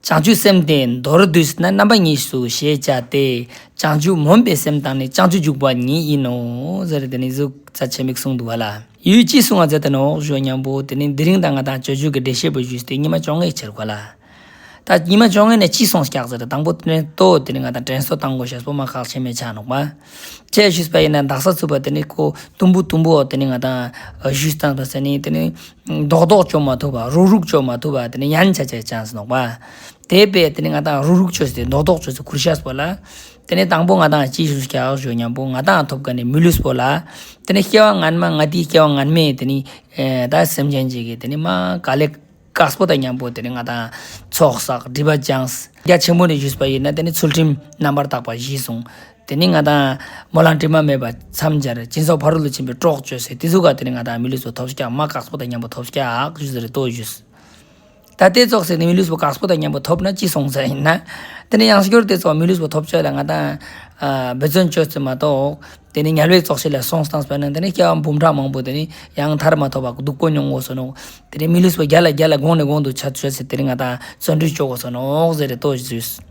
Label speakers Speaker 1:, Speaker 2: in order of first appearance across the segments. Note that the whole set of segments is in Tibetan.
Speaker 1: བྱང་ཆུབ་སེམས་དེ་མདོར་བསྡུས་ན་རྣམ་པ་གཉིས་སུ་ཞེས་བྱ་སྟེ། བྱང་ཆུབ་མུན་པའི་སེམས་དང་ནི་བྱང་ཆུབ་འཇུག་པ་ཉིད་ཡིན་ནོ། ཟེར་རེ་དེ་ནི་གཟུགས་རྩ་ཆེན་པོའི་གསུང་དུ་བ་ལ། ཡུལ་གྱིས་བསྲུང་བ་མཛད་དེ་ནོ་བཞོ་སྙམ་པོ་དེ་ནི་འདི་རིང་དང་ང་དང་ཅོལ་ཆུང་གི་འདྲེ་ཤེད་པོ་ཞུས་ཏེ་ཉི་མ་བཅོ་ལྔའི་ཕྱིར་གོ་ལ། ད་ཉི་མ་བཅོ་ལྔའི་ནས་ཅི་སོང་སྐྱག་ཟེར་རེ་དང་པོ་དྲན་ཏོ་དེ་ནི་ང་དང་དྲན་སོ་དང་གོ་ཞེས་སོ་མ་ཁག་ཕྱི་མའི་ཆ་ནོག་པ། ཅེས་ཞུས་པ་ཡིན་ན་འདག་ས་ཚུད་པ་དེ་ནི་ཀོ་དུམ་བུ་དུམ་བུའོ་དེ་ནི་ང་དང་གཞུས་དང་དོ་ཟེར་ནི་དེ་ནི་རྡོག་རྡོག་གཅོག་མ་ཐུབ་པ་རུག་རུག་གཅོག་མ་ཐུབ་པ་དེ་ནི་ཡན་ཆད་ཆད chance ནོག་པ། དེ་པས་དེ་ནི་ང་དང་རུག་རུག་ཆོས་སེ་རྡོག་རྡོག་ཆོས་སེ་གུར་ཤཱས་པོ་ལ། དེ་ནི་དང་པོ་ང་དང་ཅི་ཞུགས་ཤཱས་ཨོག་ཞོ་མཉམ་པོ་ང་དང་ཐོབ་ཀ་ནི་མི་ལུས་པོ་ལ། དེ་ནི་སྐྱེ་བ་ངན་མ་ང་དེའི་སྐྱེ་བ་ངན་མས་དེ་ནི་ད་སེམས་ཅན་གཅིག་གི་དེ་ནི་མ་ག་ལེ་ཀཱས་པོ་དང་མཉམ་པོ་དེ་ནི་ང་དང་ཚོགས་བསགས་སྒྲིབ་པ་སྦྱངས། རྒྱ་ཆེན་པོ་ནས་ཞུས་པ་ཡིན་ན་དེ་ནི་ཚུལ་ཁྲིམས་རྣམ་པར་དག་པ་བཞི་གསུངས། དེ་ནི་ང་དང། མོ་གླང་དྲི་མ་མེད་པ། མཚམས་སྦྱར། སྤྱིན་སོགས་ཕ་རོལ་ཏུ་ཕྱིན་པའི་དཀྲོགས་གཅོད་སེལ་ཏེ་ཐུགས་ཀ་དེ་ནི་ང་དང་མི་ལུས་སུ་ཐོབ་ཤག་མ་བཀག་སྤོ་དང་མཉམ་པོ་ཐོབ་ཤག་བཞུ་ཟེར་ལྟོ་བཞུས། ད་ལྟའི་ཙོག་སེར་ནི་མི་ལུས་སུ་བཀག་སྤོ་དང་མཉམ་པོ་ཐོབ་ན་ཅི་གསུང་ཟེར་ཡིན་ན། དེ་ནི་ཡང་སྐྱོར་ལྟའི་ཙོག་མི་ལུས་སུ་ཐོབ་ཆོག་ལ་ང་དང། འབད་བརྩོན་བཅོལ་བརྩོན་མ་གཏོགས། དེ་ནི་ཉལ་བའི་ཙོག་ཤི་ལ་སོང་སྟངས་སྤེལ་ན་དེ་ནི་སྐྱེ་བ་འབུམ་ཕྲག་མང་པོ་དེ་ནི་ཡང་མཐར་མ་ཐོབ་པར་སྡུག་པོ་མྱོང་དགོས་ཟེར་ནོ། དེ་ནི་མི་ལུས་སུ་བརྒྱ་ལ་བརྒྱ་ལ་དགོངས་ནས་དགོངས་འདུག་ཆ་བཅོལ་ཚེ་དེ་ནི་ང་དང་བརྩོན་འགྲུས་སྐྱོ་དགོས་ཟེར་ནོ་ཟེར་ཏོ་བཞུས།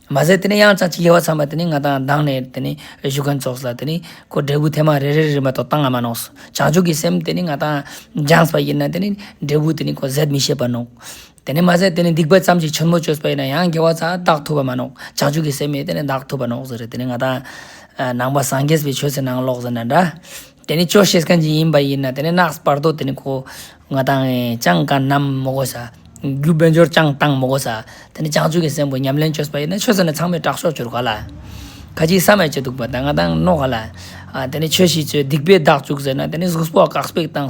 Speaker 1: མ་ཟད་དེ་ནས་ཡང་ཅང་ཅིག་དབྱེ་བ་ཚང་མ་དེ་ནས་ང་དང་གདངས་ནས་དེ་ནས་བཞུགས་མཁན་ཚོགས་ལ་དེ་ནས་ཁོ་འབྲས་བུ་ཐེངས་མ་རེ་རེ་རེ་མ་ཏོག་བཏང་ང་མ་གནོངས་སོ། བྱང་ཆུབ་ཀྱི་སེམས་དེ་ནས་ང་དང་སྦྱངས་པ་ཡིན་ན་དེ་ནས་འབྲས་བུ་དེ་ནས་ཁོ་ཟད་མི་ཤེས་པ་གནོངས། དེ་ནས་མ་ཟད་དེ་ནས་སྡིག་པ་ཙམ་ཞིག་ཆེན་མོ་བཅོས་པ་ཡིན་ན་ཡང་དགེ་བ་ཙག་ཏག་ཐུབ་པ་མ་གནོངས་བྱང་ཆུབ་ཀྱི་སེམས་མེད་དེ་ནས་བདག་ཐུབ་པ་གནོངས་ཟེར་རེ་དེ་ནས་ང་དང། ནང་པ་སངས་རྒྱས་པའི་ཆོས་ཚེ་ནང་ལོགས་ཟེར་ན་འདྲ། དེ་ནི་ཆོས་བཤད་མཁན་གྱི་ཡིན་པ་ཡིན་ན་དེ་ནི་ནགས་སྤར་དོ་དེ་ནི་གོ། ང་དང་ཅང་ག་རྣམས་མོ་གོ་ས། རྒྱུ་དཔལ་འབྱོར་ཅང་བཏང་མོ་གོ་ས། དེ་ནི་བྱང་ཆུབ་ཀྱི་སེམས་ཀྱི་ཉམས་ལེན་ཆོས་པ་ཡིན་ན་ཆོས་ཟེར་ནས་ཚང་མས་སྐྲག་ཤོག་ཅོར་ག་ལ། ཁ་ཅིག་ས་མས་བྱེད་འདུག་པ་ད་ང་དང་རྣོ་ག་ལ། དེ་ནི་ཆོས་བྱེད་ཚོས་སྡིག་པའི་བདག་བཙུགས་ཟེར་ན་དེ་ནི་གཟུགས་སྤོགས་བཀག་སྤེགས་བཏང།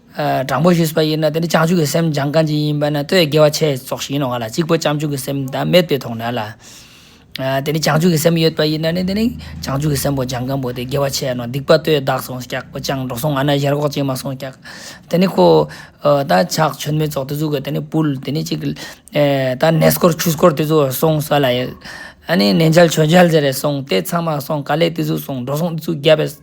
Speaker 1: དྲང་པོ་ཞུས་པ་ཡིན་ན་དེ་ནི་བྱང་ཆུབ་ཀྱི་སེམས་སྦྱང་གང་ཅི་ཡིན་པ་ན་ལྟོས་ཡོད་དགེ་བ་ཆེ་བཙོག་ཞིག་ཡིན་ནོ་ག་ལ་གཅིག་པུ་བྱང་ཆུབ་ཀྱི་སེམས་དང་མེད་པའི་དོགས་ན་ལ། དེ་ནི་བྱང་ཆུབ་ཀྱི་སེམས་ཡོད་པ་ཡིན་ན་ནི་དེ་ནི་བྱང་ཆུབ་ཀྱི་སེམས་པོ་སྦྱང་གང་པོ་དེ་དགེ་བ་ཆེ་ཡ་ནོ་སྡིག་པ་ལྟོས་བདག་སོང་སྐྱག་པོ་སྤྱང་གྲུང་སོང་ང་ན་གཞན་རོགས་ཅན་མ་སོང་སྐྱག། དེ་ནི་ཁོ། ད་ཆགས་ཆོས་མེད་བཙོག་དེ་ཚོ་གི་དེ་ནི་བུལ་དེ་ནི་ཅིག། ད་ནད་སྐོར་ཆུ་སྐོར་དེ་ཚོ་སོང་ས་ལ་ཡོད། ཨ་ནི་ནད་འཇལ་ཆོས་འཇལ་ཟེར་རེ་སོང་དེ་ཚང་མ་སོང་ག་ལས་དེ་ཚོ་སོང་འགྲོ་སོང་དེ་ཚོ་རྒྱབ་པས།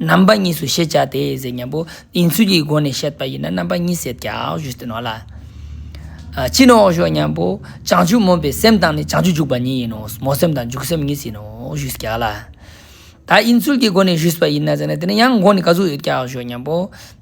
Speaker 1: རྣམ་པ་གཉིས་སུ་ཤེས་བྱ་དེ་ཟད་མཉམ་པོ་དེའི་ཚུལ་གྱི་སྒོ་ནས་བཤད་པ་ཡིན་ན་རྣམ་པ་གཉིས་ཟད་བྱ་བཞི་སྟེ་ནོ་ལ། ཕྱིས་ནི་འོག་ཞོག་མཉམ་པོ་བྱང་ཆུབ་སྨོན་པའི་སེམས་དང་ནི་བྱང་ཆུབ་འཇུག་པ་གཉིས་ཡིན་ནོ་མོ་སེམས་དང་འཇུག་སེམས་གཉིས་ཟིན་ནོ་བཞི་བྱ་ལ། དག་ཡིན་ཚུལ་གྱི་སྒོ་ནས་བཞི་བྱ་བ་ཡིན་ན་ཟེར་ན་དེ་ནི་ཡང་སྒོ་ནས་ག་ཚུལ་ཡོད་བྱ་བཞི་མཉམ་པོ་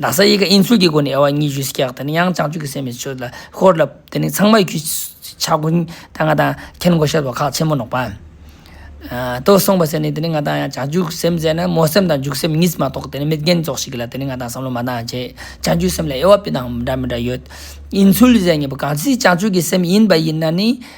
Speaker 1: ན་བཟའ་ཡི་གེ་དབྱིངས་ཚུལ་གྱི་སྒོ་ནས་དབྱེ་བ་གཉིས་བཞུགས་སུ་བཀྱག་དེ་ནི་ཡང་བྱང་ཆུབ་ཀྱི་སེམས་ཀྱི་ཆོས་ལ་ཧོར་ལ། དེ་ནི་ཚང་མ་རྒྱུད་ཆགས་ཀུན་ལྟ་ང་དང་མཁན་སྒོ་ཤར་བ་ཁག་ཆེན་མོ་ནོག་པ། ཏོ་གསུངས་པ་ཟེར་ནས་དེ་ནི་ང་དང་ཡང་བྱང་ཆུབ་སེམས་བཙལ་ན་མོ་སེམས་དང་འཇུག་སེམས་གཉིས་སུ་མ་གཏོགས་དེ་ནི་མི་རྒན་རྫོགས་ཤིག་གི་ལ་དེ་ནི་ང་དང་བསམ་བློ་མ་འདང་བྱས་བྱང་ཆུབ་སེམས་ལ་དབྱེ་བ་སྤི་དང་འདྲ་མི་འདྲ་ཡོད་དབྱིངས་ཚུལ་ཟེར་ངེས་པ་གང་ཚིག་བྱང་ཆུབ་ཀྱི་སེམས་ཡིན་པ་ཡིན་ན་ནི་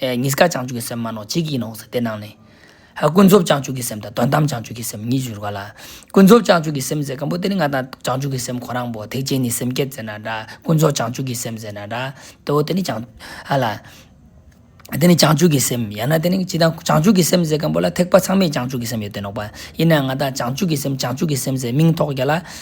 Speaker 1: གཉིས་ཀ་བྱང་ཆུབ་ཀྱི་སེམས་མ་ནོར་གཅིག་ཡིན་ནོ་ཟེར་དེ་སྣང་ནས། ཀུན་རྫོབ་བྱང་ཆུབ་ཀྱི་སེམས་དང་དོན་དམ་བྱང་ཆུབ་ཀྱི་སེམས་གཉིས་འགྱུར་བ་ལ། ཀུན་རྫོབ་བྱང་ཆུབ་ཀྱི་སེམས་ཟེར་གང་པོ་དེ་ནི་ང་དང་བྱང་ཆུབ་ཀྱི་སེམས་ཁོ་རང་བོ་ཐེག་ཆེན་ནི་སེམས་བསྐྱེད་ཟེར་ན་འདྲ་ཀུན་རྫོབ་བྱང་ཆུབ་ཀྱི་སེམས་ཟེར་ན་འདྲ་སྟེ་འོ་དེ་ནི་བྱང། ཨ་ལ། དེ་ནི་བྱང་ཆུབ་ཀྱི་སེམས་ཡང་ན་དེ་ནི་ཅི་དང་བྱང་ཆུབ་ཀྱི་སེམས་ཟེར་གང་པོ་ལ་ཐེག་པ་ཚང་མས་བྱང་ཆུབ་ཀྱི་སེམས་ཡོད་དེ་ནོག་པ་ཡིན་ན་ཡང་ང་དང་བྱང་ཆུབ་ཀྱི་སེམས་བྱང་ཆུབ་ཀྱི་སེམས་ཟེར་མིང་ཐོགས་རྒྱ་ལ།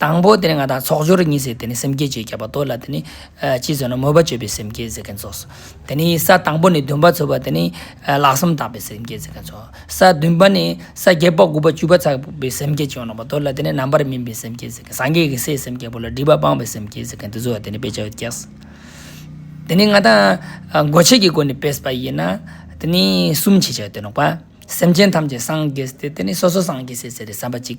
Speaker 1: དང་པོ་དེ་ནི་ང་དང་ཚོགས་སྦྱོར་གཉིས་ཟེར་དེ་ནི་སེམས་བསྐྱེད་ཅེས་བྱ་བ་དོ་ལ་དེ་ནི། ཅི་ཟེར་ན་མོས་པ་སྤྱོད་པའི་སེམས་བསྐྱེད་ཟེར་མཁན་ཚོགས་སོ། དེ་ནི་ས་དང་པོ་ནི་འདུན་པ་ཚོལ་བ་དེ་ནི། ལག་གསུམ་དག་པའི་སེམས་བསྐྱེད་ཟེར་མཁན་ཚོགས་སོ། ས་བདུན་པ་ནི་ས་བརྒྱད་པ་དགུ་པ་བཅུ་པ་ཚགས་པའི་སེམས་བསྐྱེད་ཅེས་བྱ་བ་དོ་ལ་དེ་ནི་རྣམ་པར་སྨིན་པའི་སེམས་བསྐྱེད་ཟེར་མཁན་སངས་རྒྱས་ཀྱི་སའི་སེམས་བསྐྱེད་པོ་ལ་སྒྲིབ་པ་སྤངས་པའི་སེམས་བསྐྱེད་ཟེར་མཁན་དེ་ཚོ་བ་དེ་ནི་དཔེ་ཆ་བརྒྱད་ཟེར། དེ་ནི་ང་དང། འགོ་བྱེད་ཀྱི་སྒོ་ནས་བས་པ་ཡིན་ན། དེ་ནི་གསུམ་ཕྱེད་བྱ་བའི་དོན་ནོ། སེམས་ཅན་ཐམས་ཅད་སངས་རྒྱས་ཏེ་དེ་ནི་སོ་སོ་སངས་རྒྱས་སེ་ཟེར་བའི་བསམ་པ་གཅིག།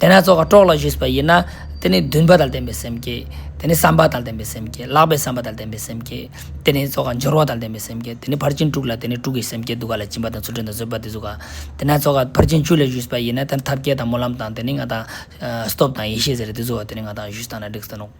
Speaker 1: དེ་ན་རྩོལ་བ་དཀྲོགས་ལ་བཞུགས་པ་ཡིན་ན། དེ་ནི་འདུན་པ་དང་ལྡན་པའི་སེམས་བསྐྱེད། དེ་ནི་བསམ་པ་དང་ལྡན་པའི་སེམས་བསྐྱེད། ལག་པའི་བསམ་པ་དང་ལྡན་པའི་སེམས་བསྐྱེད། དེ་ནི་རྩོལ་བ་སྦྱོར་བ་དང་ལྡན་པའི་སེམས་བསྐྱེད། དེ་ནི་ཕར་ཕྱིན་དྲུག་ལ་དེ་ནི་དྲུག་གི་སེམས་བསྐྱེད་འདུག་ག་ལ་སྦྱིན་པ་དང་ཚུར་འདྲེན་དང་བཟོད་པ་དེ་གཟུགས། དེ་ན་རྩོལ་བ་ཕར་ཕྱིན་བཅུ་ལ་བཞུགས་པ་ཡིན་ན། དེ་ནི་ཐབས་མཁས་དང་སྨོན་ལམ་དང་དེ་ནི་ང་དང། སྟོབས་དང་ཡེ་ཤེས་ཟེར་རེ་དེ་གཟུགས། དེ་ནི་ང་དང་བཞུགས་སྟངས་ན་བསྒྲིགས་སྟངས་ནོ།